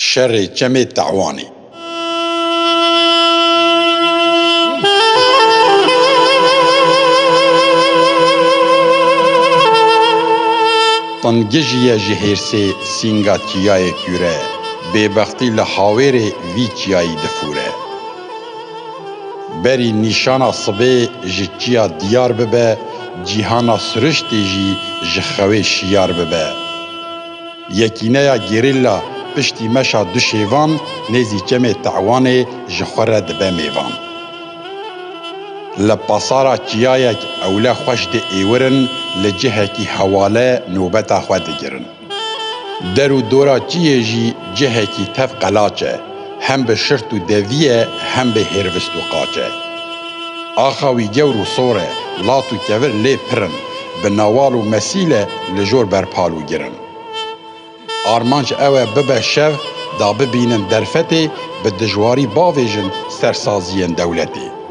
Şerê çemê te'wanî. Tengijîye ji hêrsê sînga çîyayê kûre, bêbextî li hawêrê vî çîyayî difûre. Berî nîşana sibê ji çîya dîyar bibe, cîhana siriştê jî ji xewê şîyar bibe. Yekîneya gerîla piştî meşa du şêvan nêzî çemê Te'wanê ji xwe re dibe mêvan. Li pasara çiyayek ewle xweş diêwirin li cihekî hewale nobeta xwe digirin. Der û dora çiyê jî cihekî tev qelaç e. Hem bi şirt û devî ye hem bi hêrvist û qaç e. Axa wî gewr û sor e, lat û kevir lê pir in, bi nawal û mesîl e li jor berpal û gir in. Armanc ew e bibe şev da bibînin derfetê bi dijwarî bavêjin ser saziyên dewletê.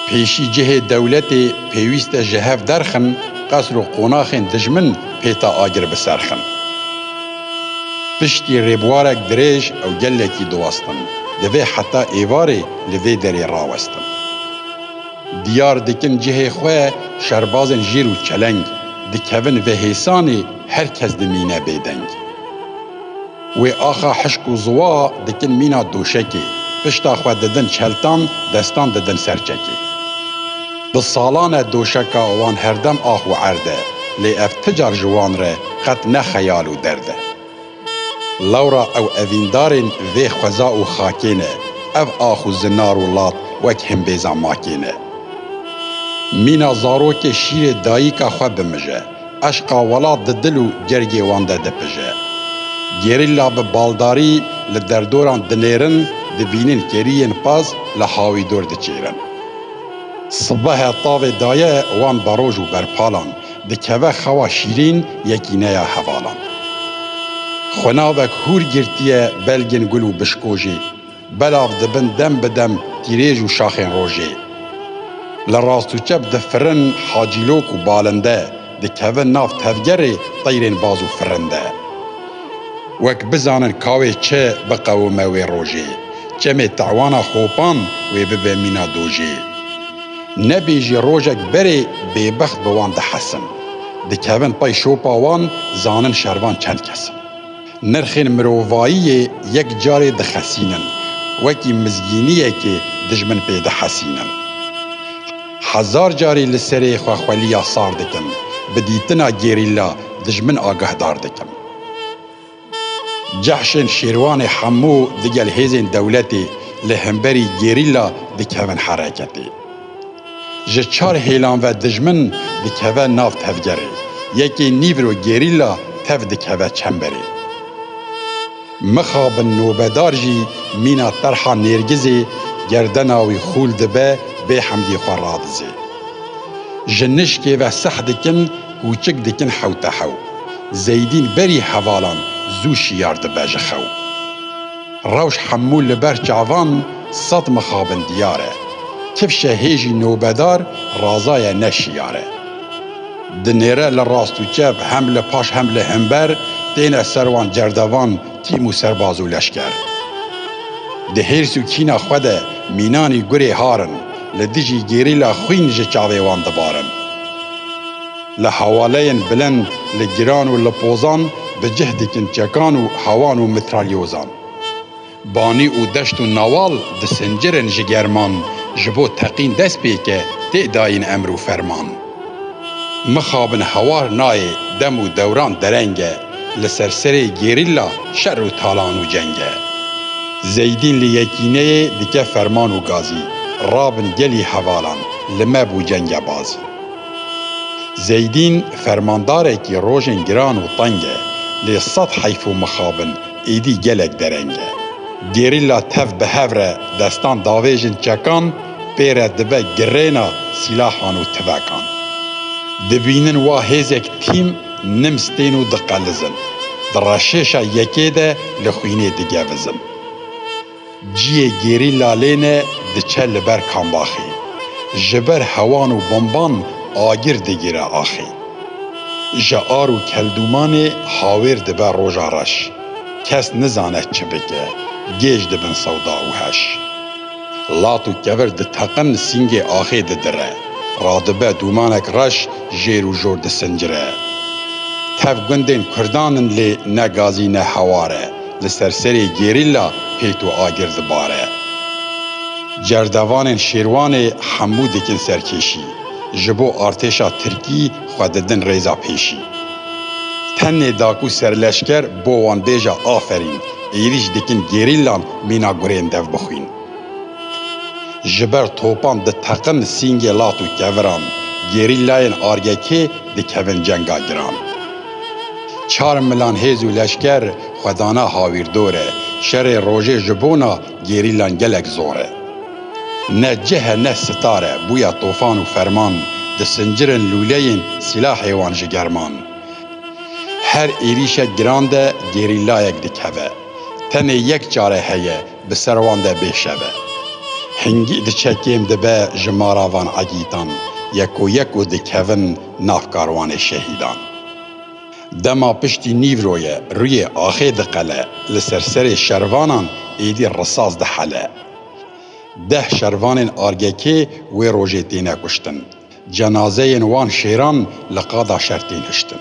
Pêşî cihê dewletê pêwîst e ji hev derxin, qesr û qonaxên dijmin pêta agir biserxin. Piştî rêbwarek dirêj ew gelekî diwestin, divê heta êvarê li vê derê rawestin. Diyar dikin cihê xwe şerbazên jêr û çeleng, dikevin vê hêsanê her kes dimîne bêdeng. Wê axa hişk û ziwa dikin mîna doşekê, pişta xwe didin çeltan, destan didin ser çekê. Bi salan e doşeka wan herdem ax û erd e, lê ev ti car ji wan re qet ne xeyal û derd e. Lewra ew evîndarên vê xweza û xakê ne, ev ax û zinar û lat wek himbêza makê ne. Mîna zarokê şîrê dayîka xwe bimije. Eşqa welat di dil û gergê wan de dipije. Gerîlla bi baldarî li derdoran dinêrin, dibînin keriyên qaz li hawî dor diçêrin. Sibehe tavê daye wan beroj û berpalan, dikeve xewa şîrîn yekîneya hevalan. Xwinavek hûr girtiye belgên gul û bişkojê. Belav dibin dem bi dem tîrêj û şaxên rojê. Li rast û çep di firin hacîlok û balin de dikevin nav tevgerê teyrên baz û firin de. Wek bizanin ka wê çi biqewime wê rojê, çemê tewana xopan wê bibe mîna dojê. Nebê jî rojek berê bêbext bi wan dihesin. Dikevin pey şopa wan zanin şervan çend kes in. Nirxên mirovayiyê yek carê dixesînin, wekî mizgîniyekê dijmin pê dihesînin. Hezar carî li serê xwe xweliya sar dikim, bi dîtina gerîlla dijmin agehdar dikim. Cehşên Şêrwanê hemû digel hêzên dewletê li hemberî gerîlla dikevin hereketê. ji çar hêlan ve dijmin dikeve nav tevgerê, yekê nîvro gerîla tev dikeve çemberê. Mixabin nobedar jî mîna terha nêrgizê gerdena wî xûl dibe bê hemdî xwe radizê. Ji nişkê ve seh dikin kûçik dikin hewtehew. Zeydîn berî hevalan zû şiyar dibe ji xew. Rewş hemû li ber çavan sed mixabin diyar e. Kifşe hêjî nobedar razaye ne şiyar e. Dinêre li rast û çep, hem li paş hem li himber, têne ser wan cerdevan tîm û serbaz û leşker. Di hêrs û kîna xwe de mînanî gurê har in, li dijî gerîla xwîn ji çavê wan dibarin. Li hewaleyên bilind, li giran û li pozan bi cih dikin çekan û hewan û mitralyozan. Banî û deşt û nawal disincirin ji german ji bo teqîn dest pêke tê dayîn emr û ferman. Mixabin hewar nayê dem û dewran dereng e li ser serê gerîlla şer û talan û ceng e. Zeydîn li yekîneyê dike ferman û gazî, Rabin gelî hevalan, li me bû cenge bazî. Zeydîn fermandarekî rojên giran û teng e, lê sed heyf û mixabin êdî gelek dereng e. Gerîla tev bi hev re destan davêjin çekan, pê re dibe girêna sîlahan û tivekan. Dibînin wa hêzek tîm nims tên û diqelizin. Di reşêşa yekê de li xwînê digevizin. Ciyê gerîla lêne diçe li ber kambaxê. Ji ber hewan û bomban agir digire axê. Ji ar û keldûmanê hawêr dibe roja reş. Kes nizane çi bike, gêj dibin sewda û heş. Lat û kevir diteqin sîngê axê didire. Radibe dûmanek reş jêr û jor disincire. Tev gundên kurdan in lê ne gazî ne hewar e. Li ser serê gerîla pêt û agir dibare. Cerdevanên Şêrwanê hemû dikin serkêşî, ji bo artêşa tirkî xwe didin rêza pêşî. Tenê da ku serleşker bo wan bêje aferîn, êrîş dikin gerîlan mîna gurên dev bixwîn. Ji ber topan diteqin sîngê lat û keviran, gerîlayên argekê dikevin cenga giran. Çar milan hêz û leşker xwe dana hawîrdor e. Şerê rojê ji bona gerîlan gelek zor e. Ne cih e ne sitar e, bûya tofan û ferman, disincirin lûleyên sîlahê wan ji german. Her êrîşek giran de gerîlayek dikeve. Tenê yek çare heye, bi ser wan de bêşeve. Hingî diçe kêm dibe ji mara van egîtan, yek û yek û dikevin nav karwanê şehîdan. Dema piştî nîvro ye rûyê axê diqele li ser serê şervanan êdî risas dihele. Deh şervanên ARGK'ê wê rojê têne kuştin. Cenazeyên wan şêran li qada şer tên hiştin.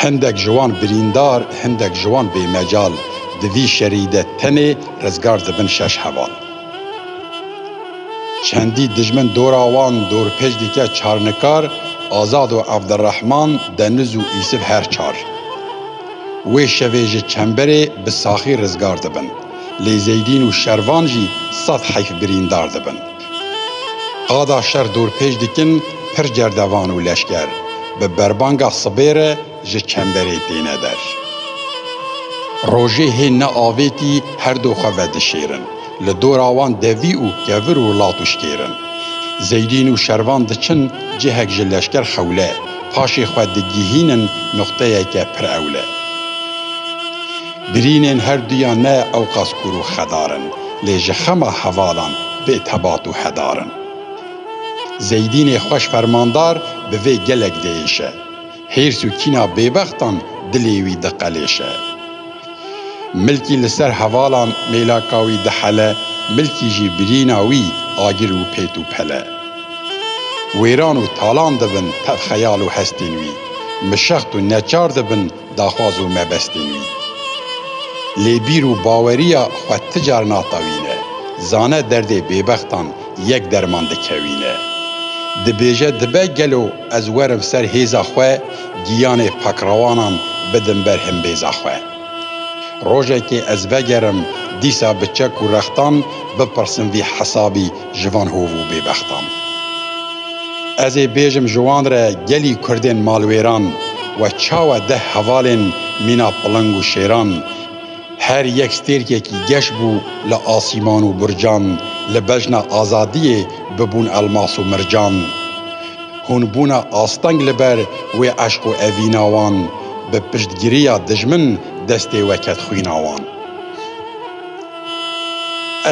Hindek ji wan birîndar, hindek ji wan bêmecal di vî şerî de tenê rizgar dibin şeş heval. Çendî dijmin dora wan dorpêç dike Çarnikar, Azad û Evdirehman, Deniz û Îsif her çar. Wê şevê ji çemberê bi saxî rizgar dibin. Lê Zeydîn û Şervan jî sed heyf birîndar dibin. Qada şer dorpêç dikin pir cerdevan û leşker bi berbanga sibê re ji çemberê têne der. Rojê hê ne avêtî her du xwe vedişêrin. Li dora wan devî û kevir û lat û şkêr in. Zeydîn û Şervan diçin cihek ji leşker xewle, paşê xwe digihînin nuqteyeke pir ewle. Birînên her duyan ne ewqas kûr û xedar in, lê ji xema hevalan bê tebat û hedar in. Zeydînê xweş fermandar bi vê gelek diêşe. Hêrs û kîna bêbextan dilê wî diqelêşe. Milkî li ser hevalan mêlaka wî dihele, milkî jî birîna wî agir û pêt û pele. Wêran û talan dibin tev xeyal û hestên wî. Mişext û neçar dibin daxwaz û mebestên wî. Lê bîr û baweriya xwe ti car natewîne, zane derdê bêbextan yek derman dikewîne. Dibêje dibe gelo ez werim ser hêza xwe giyanê pakrewanan bidim ber himbêza xwe. Rojekê ez vegerim dîsa bi çek û rextan bipirsim vî hesabî Ji van hov û bêbextan ez ê bêjim ji wan re gelî kurdên malwêran we çawa deh hevalên mîna piling û şêran her yek stêrkekî geş bû li asîman û burcan li bejna azadiyê bibûn elmas û mircan hûn bûne asteng li ber wê eşq û evîna wan bi piştgiriya dijmin destê we ket xwîna wan.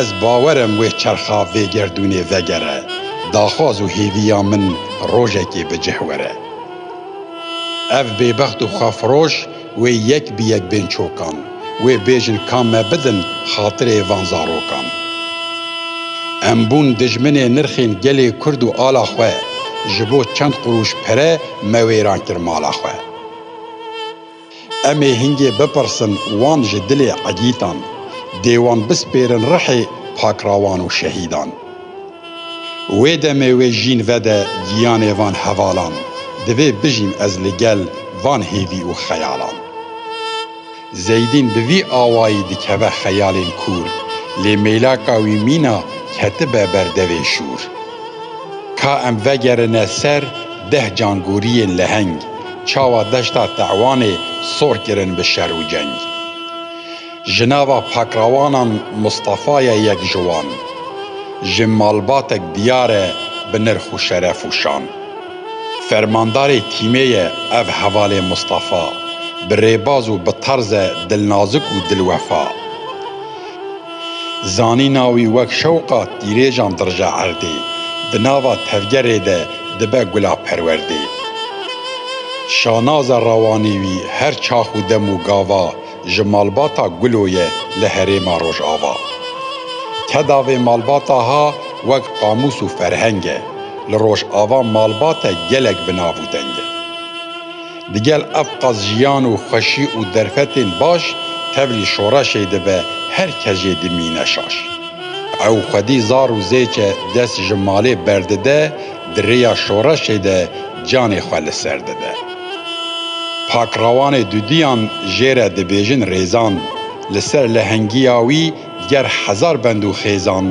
Ez bawer im wê çerxa vê gerdûnê vegere, daxwaz û hêviya min rojekê bi cih were. Ev bêbext û xwefiroş wê yek bi yek bên çokan, wê bêjin ka me bidin xatirê van zarokan. Em bûn dijminê nirxên gelê Kurd û ala xwe, ji bo çend qurûş pere me wêran kir mala xwe. Em ê hingê bipirsin wan ji dilê egîtan, dê wan bispêrin rihê pakrawan û şehîdan. Wê demê wê jîn vede giyanê van hevalan, divê bijîm ez li gel van hêvî û xeyalan. Zeydîn bi vî awayî dikeve xeyalên kûr, lê mêlaka wî mîna ketibe ber devê şûr. Ka em vegerine ser deh cangoriyên leheng, çawa deşta Te'wanê sor kirin bi şer û ceng. Ji nava pakrawanan Mistefa ye yek ji wan. Ji malbatek diyar e bi nirx û şeref û şan. Fermandarê tîmê ye ev hevalê Mistefa, bi rêbaz û bi tarze dilnazik û dilwefa. Zanîna wî wek şewqa tîrêjan dirije erdê, di nava tevgerê de dibe gula perwerdê. Şanaza rawanî wî her çax û dem û gava ji malbata Gulo ye li herêma Rojava. Keda vê malbata ha wek qamûs û ferheng e, li Rojava malbate gelek bi nav û deng e. Digel ev qas jiyan û xweşî û derfetên baş tevlî şoreşê dibe her kes jê dimîne şaş. Ew xwedî zar û zêçe dest ji malê berdide di rêya şoreşê de canê xwe li ser dide. Pakrawanê duduyan jê re dibêjin rêzan li ser lehengiya wî, Ger hezar bend û xêzan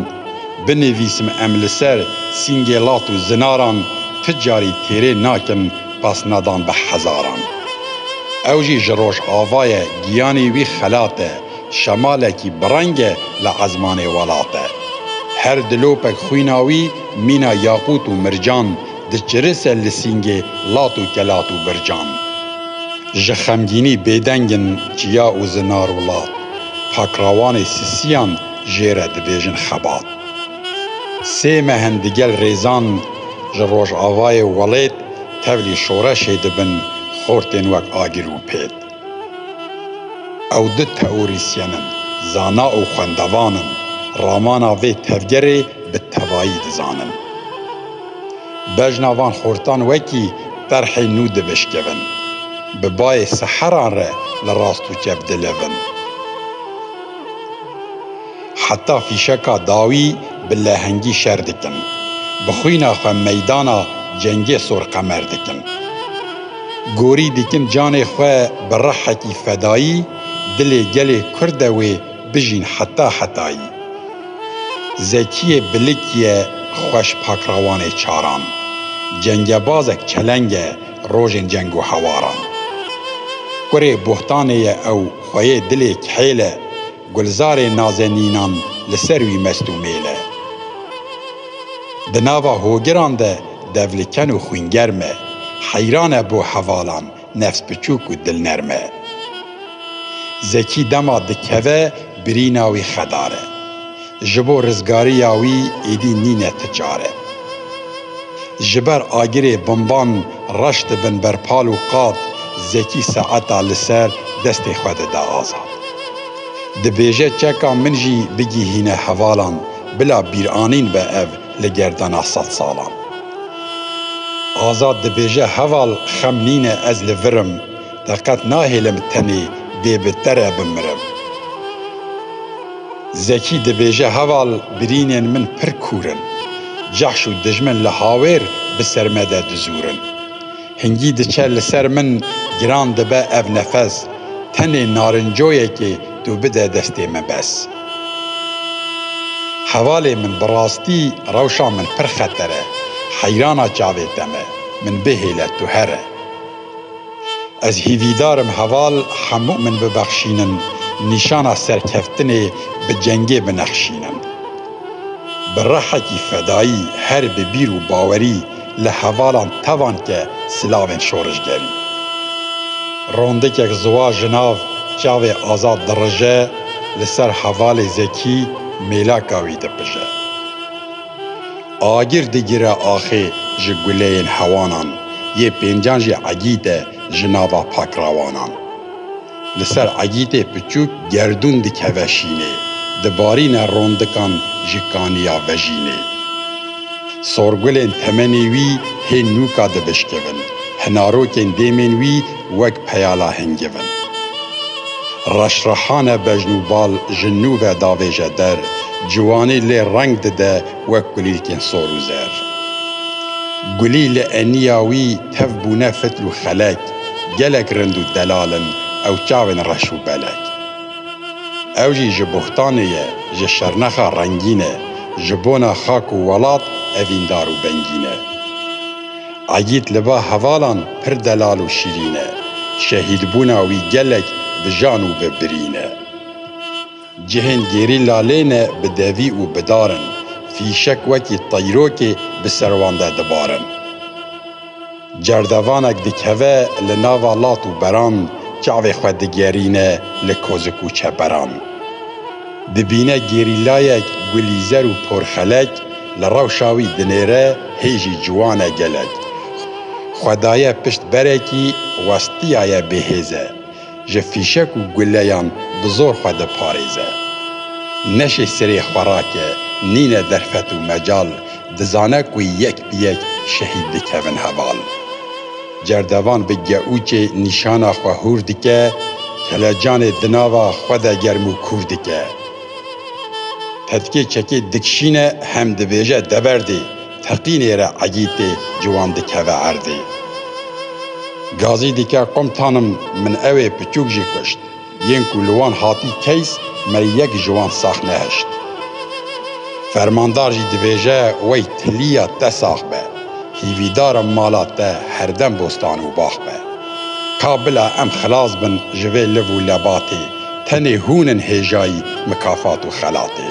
binivîsim em li ser sîngêlat û zinaran ti carî têrê nakin pasnadan bi hezaran. Ew jî ji rojava ye giyanî wî xelat e, şemalekî bi reng e li ezmanê welat e. Her dilopek xwîna wî mîna yaqût û mircan, Diçire ser lisîngê lat û kelat û bircan. Ji xemgînî bêdeng in çiya û zinar û lat. Pakrawanê sisiyan jê re dibêjin xebat. Sê mehin digel rêzan ji rojavayê welêt tevlî şoreşê dibin xortên wek agir û pêt. Ew du teorîsyen in, zana û xwendevan in, ramana vê tevgerê bi tevayî dizanin. Bejna van xortan wekî terhê nû divişkivin, bi bayê seheran re li rast û çep dilivin. heta fîşeka dawî bi lehengî şer dikin, bi xwîna xwe meydana cengê Sorqemer dikin. Gorî dikin canê xwe bi rihekî fedayî dilê gelê Kurd de wê bijîn heta hetayî. Zekiyê Bilik ye xweş pakrawanê çaran, cengebazek çeleng e rojên ceng û hewaran. Kurê bohtanê ye ew xweyê dilê kihêl e, Gulzarê nazenînan li ser wî mest û mêl e. Di nava hogiran de devliken û xwîngerm e. Heyran e bo hevalan, nefsbiçûk û dilnerm e. Zekî dema dikeve birîna wî xedar e. Ji bo rizgariya wî êdî nîne ti çare. Ji ber agirê bomban reş dibin ber pal û qad Zekî saeta li ser destê xwe dida Azad. Dibêje çeka min jî bigihîne hevalan bila bîranîn be ev li gerdana sed salan. Azad dibêje heval xem nîne ez li vir im te qet nahêlim tenê dê bi te re bimirim. Zekî dibêje heval birînên min pir kûr in. Cehş û dijmin li hawêr bi ser me de dizûrin. Hingî diçe li ser min giran dibe ev nefes, tenê narincoyekê tu bide destê min bes. Hevalê min bi rastî rewşa min pir xeter e. Heyrana çavê te me. Min bihêle tu here. Ez hîvîdar im heval hemû min bibexşînin, nîşana serkeftinê bi cengê binexşînin. Bi rehekî fedayî her bi bîr û bawerî li hevalan tevan ke silavên şorijgerî. Rondikek ziwa ji nav çavê Azad dirije, li ser hevalê Zekî mêlaka wî dipije. Agir digire axê ji guleyên hewanan, yê pêncan jî egît e ji nava pakrawanan. Li ser egîtê piçûk gerdûn dikeve şînê, dibarîne rondikan ji kaniya vejînê. Sorgulên temenê wî hê nûka dibişkivin, hinarokên dêmên wî wek peyala hingivin. Reşrehane bejn û bal ji nû ve davêje der, ciwanî lê reng dide Wek kulîlkên sor û zer. Gulî li eniya wî tev bûne fitl û xelek, gelek rind û delal in ew çavên reş û belek. Ew jî ji boxtanê ye, ji şernexa rengîn e, ji bona xak û welat evîndar û bengîn e. Egît li ba hevalan pir delal û şîrîn e, şehîdbûna wî gelek bi jan û bi birîn e. Cihên gêrî lalê ne bi devî û bi dar in, fîşek wekî teyrokê bi ser wan de dibarin. Cerdevanek dikeve li nava lat û beran, çavê xwe digerîne li kozik û çeperan. Dibîne gêrîlayek gulîzer û porxelek li rewşa wî dinêre hê jî ciwan e gelek. Xwe daye pişt berekî westiyaye bêhêz e. ji fîşek û guleyan bi zor xwe diparêze. Neşê sirê xwerake nîne derfet û mecal, dizane ku yek bi yek şehîd dikevin heval. Cerdevan bi geûçê nîşana xwe hûr dike, kelecanê di nava xwe de germ û kûr dike. Tetkê çekê dikişîne hem dibêje deberdê. Teqînê re Egîtê ciwan dikeve erdê. Gazî dike Komtanim min ewê piçûk jî kuşt. Yên ku li wan hatî keys me yek ji wan sax nehişt. Fermandar jî dibêje wey tilîya te sax be. Hîvîdara mala te herdem bostan û bax be. Ka bila em xilas bin ji vê liv û lebatê, tenê hûn in hêjayî mikafat û xelatê.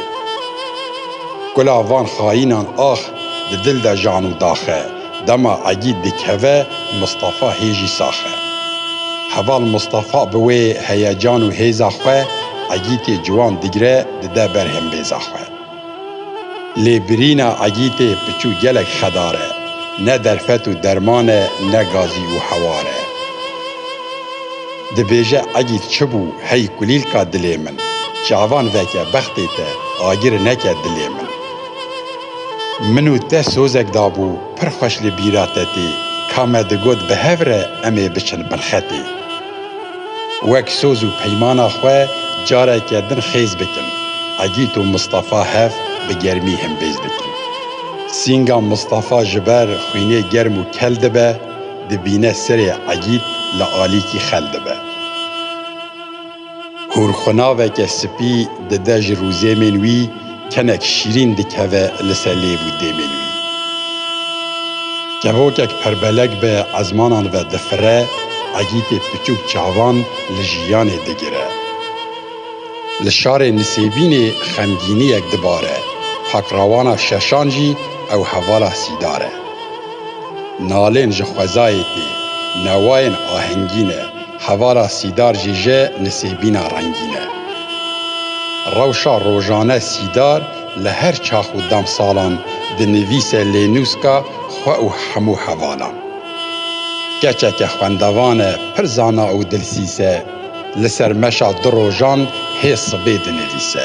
Kula van xayînan ax di dil de jan û dax e. Dema Egîd dikeve Mistefa hê jî sax e. Heval Mistefa bi wê heyecan û hêza xwe Egîtê ciwan digire dide ber hembêza xwe. Lê birîna Egîtê piçû gelek xedar e. Ne derfet û derman e ne gazî û hewar e. Dibêje egî çi bû hey kulîlka dilê min, çavan veke bextê te agir neke dilê min. Min û te sozek dabû pir xweş li bîra te tê ka me digot bi hev re em ê biçin bilxetê. Wek soz û peymana xwe careke din xêz bikin, egît û Mistefa hev bi germî himbêz dikin. Sînga Mistefa ji ber xwînê germ û kel dibe, Dibîne sirê egîd li alîkî xel dibe. Hûrxwenaveke spî dide ji rûzêmên wî, kenek şîrîn dikeve li ser lêv û dêmên wî. Kevokek perbelek bi ezmanan ve difire, egîtê piçûk çavan li jiyanê digire. Li şarê Nisêbînê xemgîniyek dibare, takrawana şeşan jî ew hevala sîdar e. Nalên ji xwezayê tê, newayên ahengîn e, hevara sîdar jî ji nisêbîna rengîn e. Rewşa rojane sîdar li her çax û demsalan dinivîse lênûska xwe û hemû hevalan. Keçeke xwendevan e, pir zana û dilsîz e, li ser meşa du rojan hê sibê dinivîse.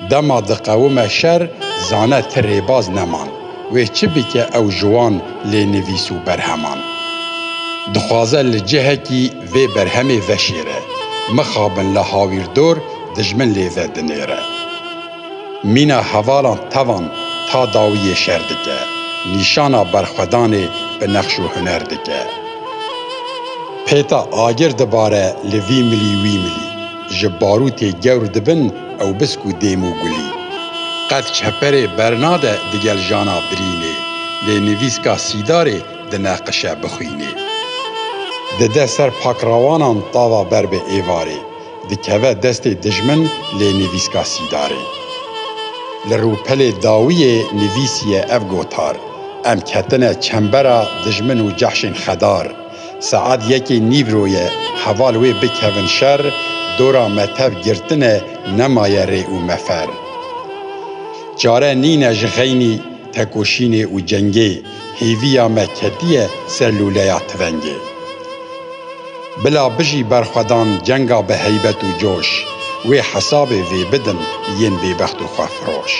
Dema diqewime şer, zane ti rêbaz neman. Wê çi bike ew ji wan lê nivîs û berheman dixwaze li cihekî vê berhemê veşêre, Mixabin li hawîrdor dijmin lê vedinêre. Mîna hevalan tevan ta dawî yê şer dike, nîşana berxwedanê bi nexş û huner dike. Pêta agir dibare li vî milî wî milî. Ji barûtê gewr dibin ewbisk û dêm û gulî. Qet çeperê bernade digel jana birînê, lê nivîska sîdarê dineqişe bixwînê. Dide ser pakrawanan tava ber bi êvarê, dikeve destê dijmin lê nivîska sîdarê. Li rûpelê dawiyê nivîsiye ev gotar, Em ketine çembera dijmin û cehşên xedar, Saet yekê nîvro ye, heval wê bikevin şer, dora me tev girtine nemaye rê û mefer. Çare nîne ji xeynî, tekoşînê û cengê, hêviya me ketiye ser lûleya tivengê. Bila bijî berxwedan cenga bi heybet û coş, wê hesabê vê bidin yên bêbext û xwefiroş.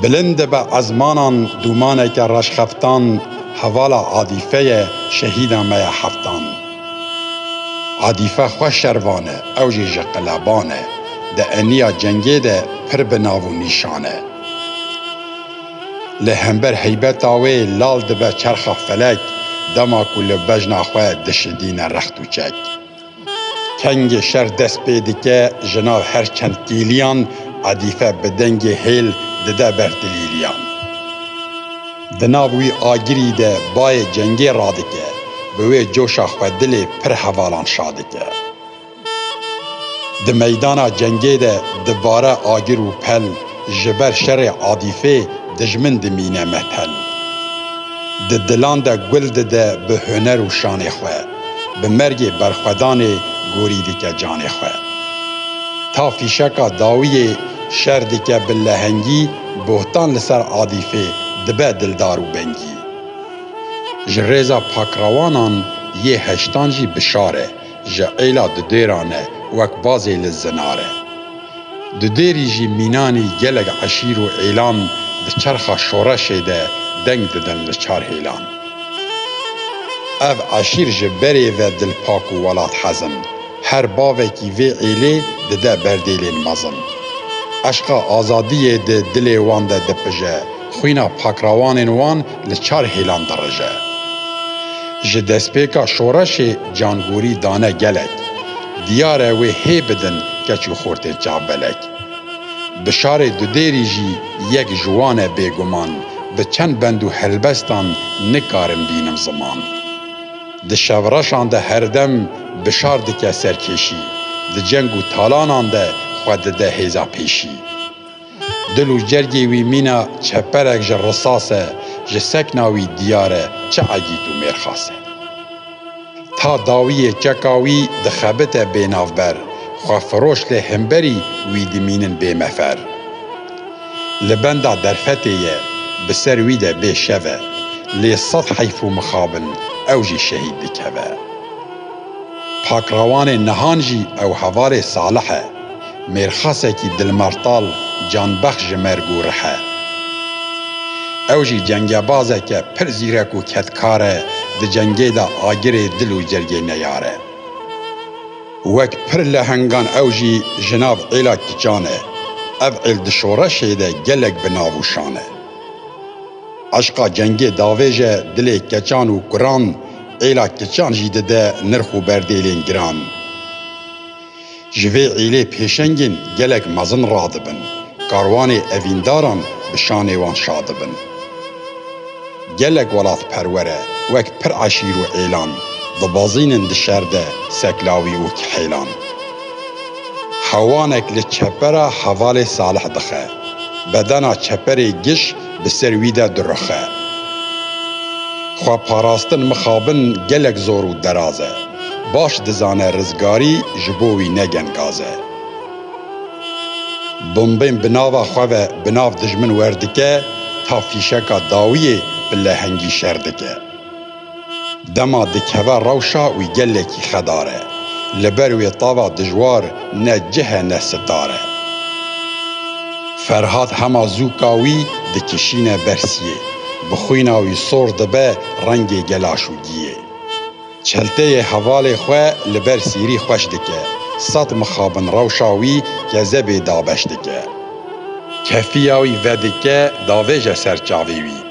Bilind dibe ezmanan Dûmaneke reşxeftan Hevala Adîfeye Şehîda me ye heftan Adîfe xwe şervan e Ew jî ji qeleban e Di eniya cengê de Pir bi nav û nîşan e Lê hember heybeta wê Lal dibe çerxa felek Dema ku li bejna xwe Dişidîne rext û çek. Tengê şer dest pê dike ji nav her çend kîliyan, Edîfe bi dengê hêl dide ber dilîliyan. Di nav wî agirî de bayê cengê radike, Bi wê coşa xwe dilê pir hevalan şadike. Di meydana cengê de dibare agir û pel, Ji ber şerê Edîfê dijmin dimîne metel. Di dilan de gul dide bi huner û şanê xwe, bi mergê berxwedanê gorî dike canê xwe. Ta fîşeka dawiyê şer dike bi lehengî bohtan li ser Adîfê dibe dildar û bengî. Ji rêza pakrawanan yê heştan jî bi şar e, ji êla dudêran e wek bazê li zinar e. Di dêrî jî mînanî gelek eşîr û êlan di çerxa şoreşê de deng didin li çar hêlan. Ev eşîr ji berê ve dilpak û welathez in. Her bavekî vê êlê dide berdêlên mezin. Eşqa azadiyê di dilê wan de dipije. Xwîna pakrawanên wan li çar hêlan dirije. Ji destpêka şoreşê cangorî dane gelek. Diyar e wê hê bidin keç û xortên çavbelek. Bi şarê Dudêrî jî yek ji wan e bêguman, bi çend bend û helbestan nikarim bînim ziman. Di şevreşan de herdem bi şar dike serkêşî, di ceng û talanan de xwe dide hêza pêşî. Dil û cergê wî mîna çeperek ji risas e, ji sekna wî diyar e çi egît û mêrxas e. Ta dawiyê çeka wî dixebite bênavber, xwefiroş lê himberî wî dimînin bêmefer. Li benda derfetê ye, bi ser wî de bê şev e, lê sed heyf û mixab in ew jî şehîd dikeve. Pakrawanê nihan jî ew hevalê Salih e. Mêrxasekî dilmartal canbexş ji merg û rih e. Ew jî cengebazeke pir zîrek û kedkar e di cengê de agirê dil û cergê neyar e. Wek pir lehengan ew jî ji nav êla kiçan e. Ev êl di şoreşê de gelek bi nav û şan e. Eşqa cengê davêj e dilê keçan û kuran, êla kiçan jî dide nirx û berdêlên giran. Ji vê îlê pêşengên gelek mezin radibin, karwanê evîndaran bi şanê wan şa dibin. Gelek welatperwere wek pir eşîr û êlan, dibezînin di şer de seklawî û kihêlan. Hewanek li çepera hevalê Salih dixe. Bedena çeperê giş bi ser wî de dirixe. Xweparastin mixabin gelek zor û deraz e. Baş dizane rizgarî ji bo wî ne gengaz e. Bombên bi nava xwe ve bi nav dijmin werdike ta fîşeka dawiyê bi lehengî şer dike. Dema dikeve rewşa wî gelekî xedar e. Li ber wê tava dijwar ne cih e ne sitar e. Ferhad hema zûka wî dikişîne bersiyê. Bi xwîna wî sor dibe rengê gelaşûgiyê. Çelteyê hevalê xwe li ber sîrî xweş dike. Sed mixabin rewşa wî kezebê dabeş dike. Kefiya wî vedike davêje ser çavê wî.